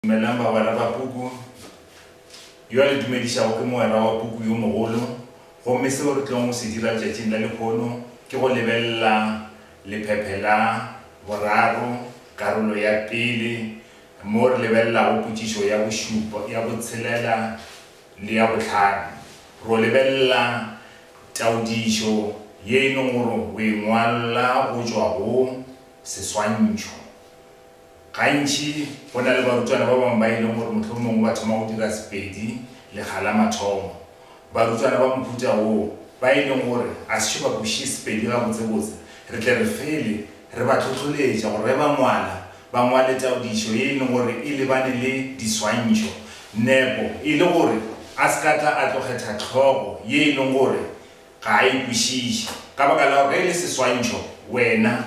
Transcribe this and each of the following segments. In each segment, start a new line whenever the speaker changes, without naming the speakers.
Dumelang bagwera ba puku. Yo a le dumedišago ke mogwera wa puku yo mogolo, gomme seo re tlilego go se dira letšatšing la lekhono ke go lebelela lephephe la boraro, karolo ya pele, moo re lebelelago potšišo ya bošupa, ya botshelela le ya bohlano. Ro lebelela taodišo ye e lego gore o e ngwala go tšwa go seswantšho. Gantši go na le barutwana ba bangwe ba e leng gore mohlomongwe ba thoma go dira Sepedi lekga la mathomo. Barutwana ba mohuta woo ba e leng gore ga se šo ba kwešiše Sepedi gabotsebotse, re tle re fele re ba hlohloletša gore ge ba ngwala, ba ngwale taodišo ye e leng gore e lebane le diswantšho. Nepo e le gore a se ka tla a tlo kgetha hlogo ye e leng gore ga a e kwešiše ka baka la gore ge e le seswantšho wena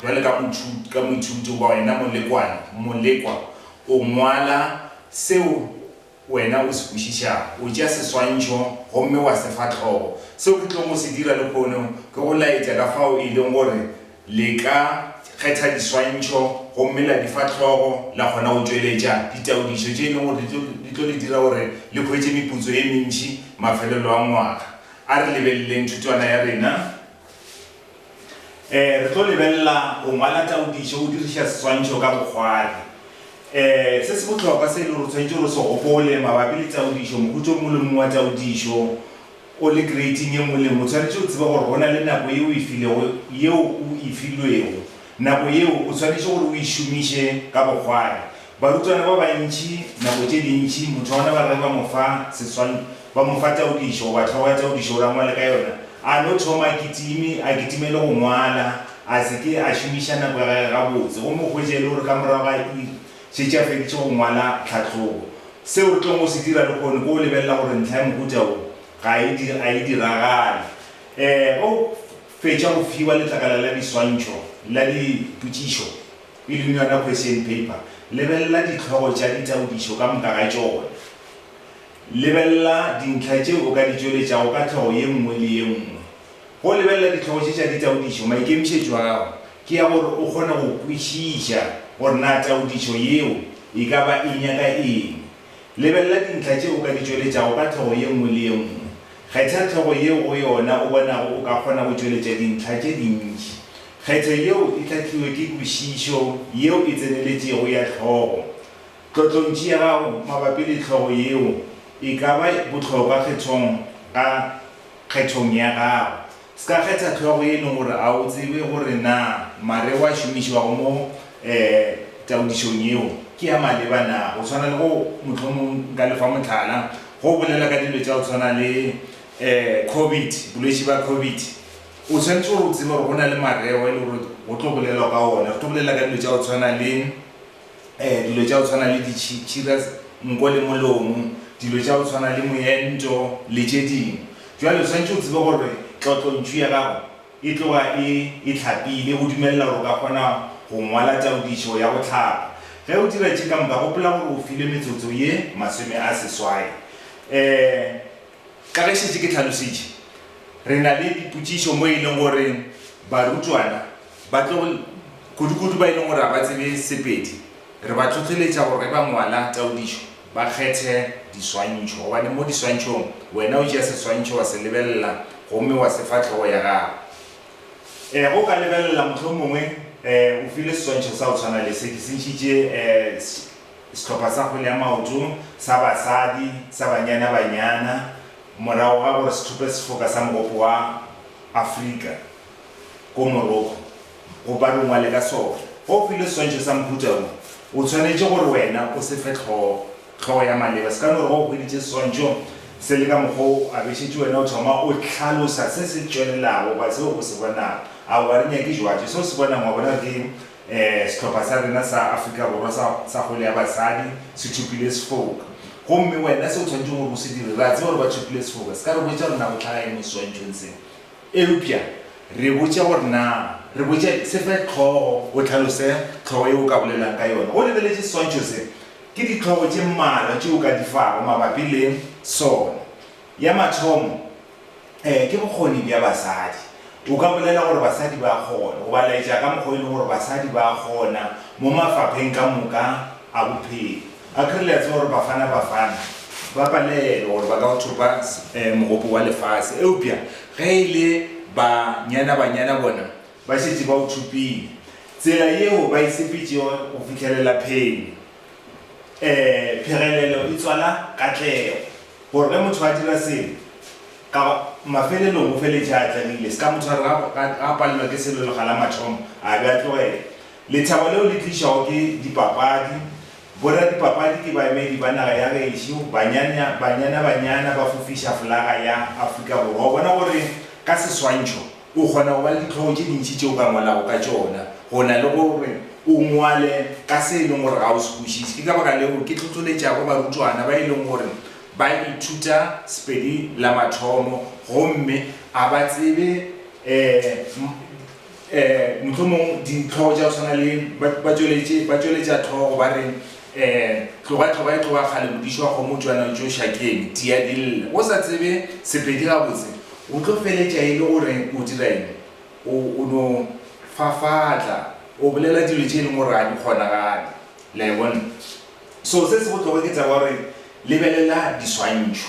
Bjale ka moithuti, ka moithuti goba wena molekwane, molekwa, o ngwala seo wena o se kwešišago. O tšea seswantšho gomme wa se fa hlogo. Seo ke tlogo go se dira lehono ke go laetša ka fao e leng gore le ka kgetha diswantšho gomme la di fa hlogo, la kgona go tšweletša ditaodišo tše e leng gore di tlo le dira gore le hwetše meputso ye mentši mafelelo a ngwaga. A re lebeleleng thutwana ya rena. um re tlo lebelela go ngwala taodišo o diriša seswantšho ka bokgwadi. um Se se bohlokwa se e le gore tshwanetse gore se gopole mabapi le taodišo, moputso o mongwe le mongwe wa taodišo o le kreiting e nngwe le nngwe o tshwanetse o tsebe gore go na le nako ye o e filego yeo o e filwego. Nako yeo o swanetše gore o e šomiše ka bokgwari. Barutwana ba bantši nako tše dintši motho wa bona ba re ge ba mo fa seswan, ba mo fa taodišo goba hlogo ya taodišo gore a ngwale ka yona, a no thoma a kitime, a kitime le go ngwala, a se ke a šomiša nako ya gage gabotse gomme o hwetše e le gore ka morago ga iri šetše a feditše go ngwala tlhahlobo. Seo re tlogo se dira lehono ke go lebelela gore ntlha ya mohuta wo ga e, a e diragale. Ee, ge o. Fetša go fiwa letlakala la diswantšho la dipotšišo, e leng yona question paper, lebelela dihlogo tša ditaodišo ka moka ga tšona. Lebelela dintlha tšeo o ka di tšweletšago ka hlogo ye nngwe le ye nngwe. Go lebelela dihlogo tše tša ditaodišo, maikemišetšo ao ke ya gore o kgone go kwešiša gore na taodišo yeo e ka ba e nyaka eng Lebelela dintlha tše o ka di tšweletšago ka hlogo ye nngwe le ye nngwe. Kgetha hlogo yeo go yona o bonago o ka kgona go tšweletša dintlha tše dintši. Kgetho yeo e hlahliwe ke kwešišo yeo e tseneletšego ya hlogo. Tlotlontši ya gago mabapi le hlogo yeo e ka ba bohlokwa kgethong ka kgethong ya gago. Ska kgetha hlogo ye nngwe gore a o tsebe gore na mare wa šomišwago mo taodišong yeo ke ya maleba na. Go swana le go, mohlomong nka le fa mohlala, ge o bolela ka dilo tša go swana le Covid, bolwetši ba Covid, o swanetše gore o tsebe gore go na le mareo e le gore go tlo bolelwa ka ona. Re tlo bolela ka dilo tša go tshwana le. um dilo tša go tshwana le ditšhira, nko le molomo, dilo tša go tshwana le moento le tše dingwe. Bjale o swanetše o tsebe gore tlotlontšu ya gago e tloga e e hlapile go dumelela gore o ka kgona go ngwala taodišo ya go hlapa. Ge o dira tše ka moka, gopola gore o filwe metsotso ye masome a seswai. um Ka ge šetše ke tlhalositše, re na le dipotšišo mo e leng gore barutwana ba tlo, kudukudu ba e leng gore ga ba tsebe Sepedi, re ba hlohleletša gore ge ba ngwala taodišo ba kgethe diswantšho gobane mo diswantšhong wena o tšea seswantšho wa se lebelela gomme wa se fa hlogo ya gago. Ge o ka lebelela, mohlomongwe o file seswantšho sa go tshwana le se, ke se ntšhitše Sehlopha sa kgwele ya maoto sa basadi sa Banyana Banyana morago ga gore se thope sefoka sa Mogopo wa Afrika ko Morocco go ba rungwale ka sona. Ge o filwe seswantšho sa mohuta wo, o tshwanetše gore wena o se fe hlogo. Hlogo ya maleba se ka no re ge o hweditše seswantšho se le ka mokgwa wo a bešetše wena, o thoma o hlalosa se se tšwelelago goba seo o se bonago. Aowa, re nyake jwatšo. Se o se bonang wa bona ke Sehlopha sa rena sa Afrika Borwa sa, sa kgwele ya basadi se thopile sefoka. Gomme wena se o tshwanetseng gore o se dire, re a tseba gore ba thopile sefoka, se ka re botša gore na go tlhaga eng mo seswantšhong se. Eupša re botša gore na, re botša, se fe hlogo, o hlalose hlogo yeo o ka bolelang ka yona. O lebeletše seswantšho se? Ke dihlogo tše mmalwa tšeo o ka di fago mabapi le sona. Ya mathomo. Ee, ke bokgoni bja basadi. O ka bolela gore basadi ba a kgona, goba laetša ka mokgwa o e lego gore basadi ba a kgona mo mafapheng ka moka a bophelo. Akere le a tseba gore Bafana Bafana ba palelwa gore ba ka o thopa mogopo wa lefase, eupša ge e le Banyana-Banyana bona ba šetše ba o thopile. Tsela yeo ba e sepetšego go fihlelela phenyo Phegelelo e tswala katlego. Gore ge motho a dira selo, ka mafelelong o feletša a atlegile. Se ka mo tshwarela ge a palelwa ke selo lekga la mathomo, a be a tlogela. Lethabo leo le tlišwago ke dipapadi. Boradipapadi ke baemedi ba naga ya gešo. Banyana Banyana ba fofiša folaga ya Afrika Borwa. O bona gore ka seswantšho, O kgona go ba le ditlhogo tše dintši tše o ka ngwalago ka tšona go na le gore o ngwale ka se e leng gore ga o se kwešiše. Ke ka baka leo ke hlohloletšago barutwana ba e leng gore ba ithuta Sepedi la mathomo gomme a ba tsebe um mohlomong ditlhogo tša go tshwana le ba tšweletša tlhogo ba re um tloga tloga e tloga kgale modiši wa kgomo o tšwana o tšo ša keng, tia dille. O sa tsebe Sepedi gabotse, O tlo feletša e le gore o dira eng? O, o no fafatla, o bolela dilo tše e leng gore ga di kgonagale. Le a e bona? So, se se bohlokwa ke tseba gore lebelela diswantšho.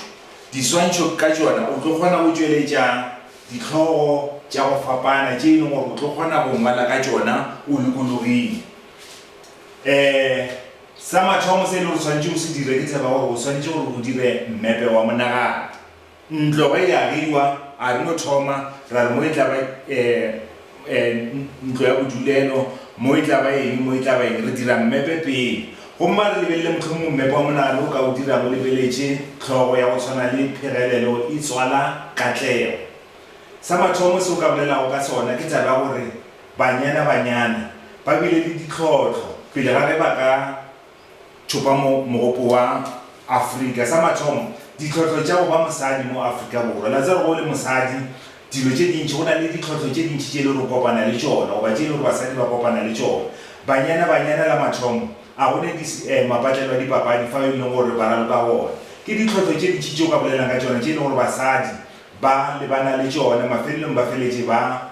Diswantšho ka tšona o tlo kgona go tšweletša dihlogo tša go fapana tše e leng gore o tlo kgona go ngwala ka tšona o lokologile. Um, sa mathomo se e lego gore o swanetše o se dire, ke tseba gore o swanetše gore o dire mmepe wa monagano. Ntlo ge e agiwa, a re no thoma ra re mo e tla ba ntlo ya bodulelo, mo e tla ba eng, mo e tla ba eng, re dira mmepe pele. Gomme a re lebelele mohlomongwe mmepe wa monagano o ka o dirago o lebeletše hlogo ya go tshwana le Phegelelo e tswala Katlego. Sa mathomo se o ka bolelago ka sona ke taba ya gore banyana-banyana ba bile le ditlhohlo pele ga ge ba ka tšopa mogopo wa Afrika. Sa mathomo, ditlhohlo tša go ba mosadi mo Afrika Borwa. La tseba ge o le mosadi, dilo tše dintši, go na le ditlhohlo tše dintši tše e le gore o kopana le tšona, goba tše e le gore basadi ba kopana le tšona. Banyana, banyana la mathomo, a go ne di, eh, mapatlelo a dipapadi fao e leng gore ba raloka gona. Ke ditlhohlo tše dintši tše o ka bolelang ka tšona tše e leng gore basadi ba lebana le tšona, mafelelong ba feletše ba.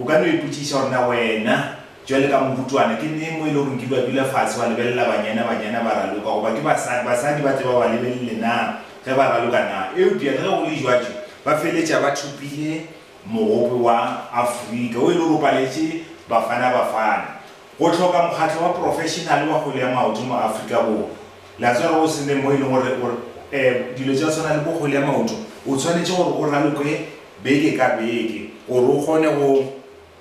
O ka no ipotšiša gore, Na wena, bjale ka morutwana, ke neng mo e le gore nkile wa dula fase wa lebelela banyana, banyana ba raloka, goba ke basadi, basadi ba tle ba ba lebelele na ge ba raloka na? Eupša le ge go le bjatšo, ba feletša ba thopile mogope wa Afrika wo e le gore o paletše Bafana Bafana. Go hloka mokgatlo wa profešenale wa kgwele ya maoto mo Afrika Borwa, le a tseba ge o se ne mo e leng gore o, eh, dilo tša go swana le bo kgwele ya maoto, o tshwanetše gore o raloke, beke ka beke gore o kgone go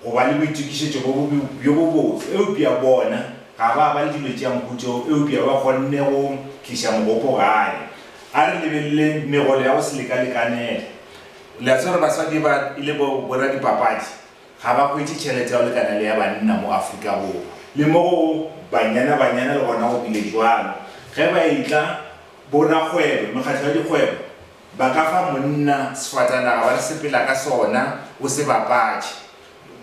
go ba le boitokišetšo bjo bo bjo bobotse, eupša bona ga ba ba le dilo tša nku tšeo, eupša ba kgonne go tliša mogopo gae. A re lebeleleng megolo ya go se leka-lekanele. Le a tseba gore baswadi ba e le bo boradipapadi ga ba hwetše tšhelete ya go lekana le ya banna mo Afrika Borwa, le mo go Banyana-Banyana le gona go bile bjalo. Ge ba e-tla, borakgwebo, mekgatlo ya dikgwebo, Ba ka fa monna sefatanaga ba re sepela ka sona o se bapatše.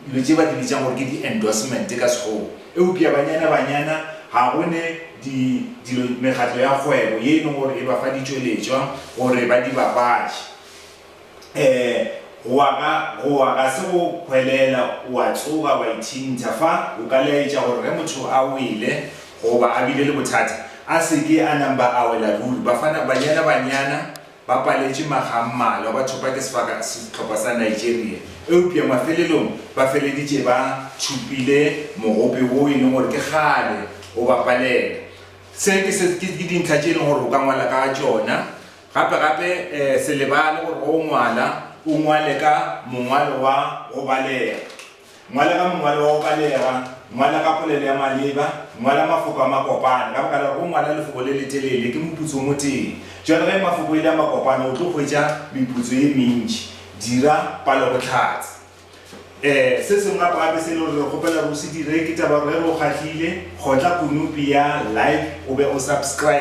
Dilo tše ba di bitšang gore ke di endorsement ka sekgowa. Eupša banyana banyana ga go ne di dilo mekgatlo ya kgwebo ye e leng gore e ba fa ditšweletšwa gore ba di bapatše. Go wa ga go wa ga se go hwelela wa tsoga wa ithintha fa o ka laetša gore ge motho a wele, goba a bile le bothata, a se ke a namba a wela ruri. Bafana Banyana Banyana ba paletše makga a mmalwa, ba thopa ke sehlopha sa Nigeria, eupša mafelelong ba feleditše ba tšhupile mogope woo e leng gore ke kgale o ba palela. Se ke se ke dintlha tše e leng gore o ka ngwala ka tšona. Gape gape se lebale gore ge o ngwala o ngwale ka mongwalo wa go balega. Ngwala ka mongwalo wa go balega, ngwala ka polelo ya maleba, ngwala mafoko a makopana, ka baka la gore go ngwala lefoko le letelele ke moputso o motee. Bjalo ge mafoko e le a makopana o tlo hwetša meputso ye mentši. Dira palobohlatse. E, se sengwe gape-gape se e le gore re kgopela gore o se dire ke taba ya gore ge re o kgahlile, kgotla konopi ya Like o be o subscribe.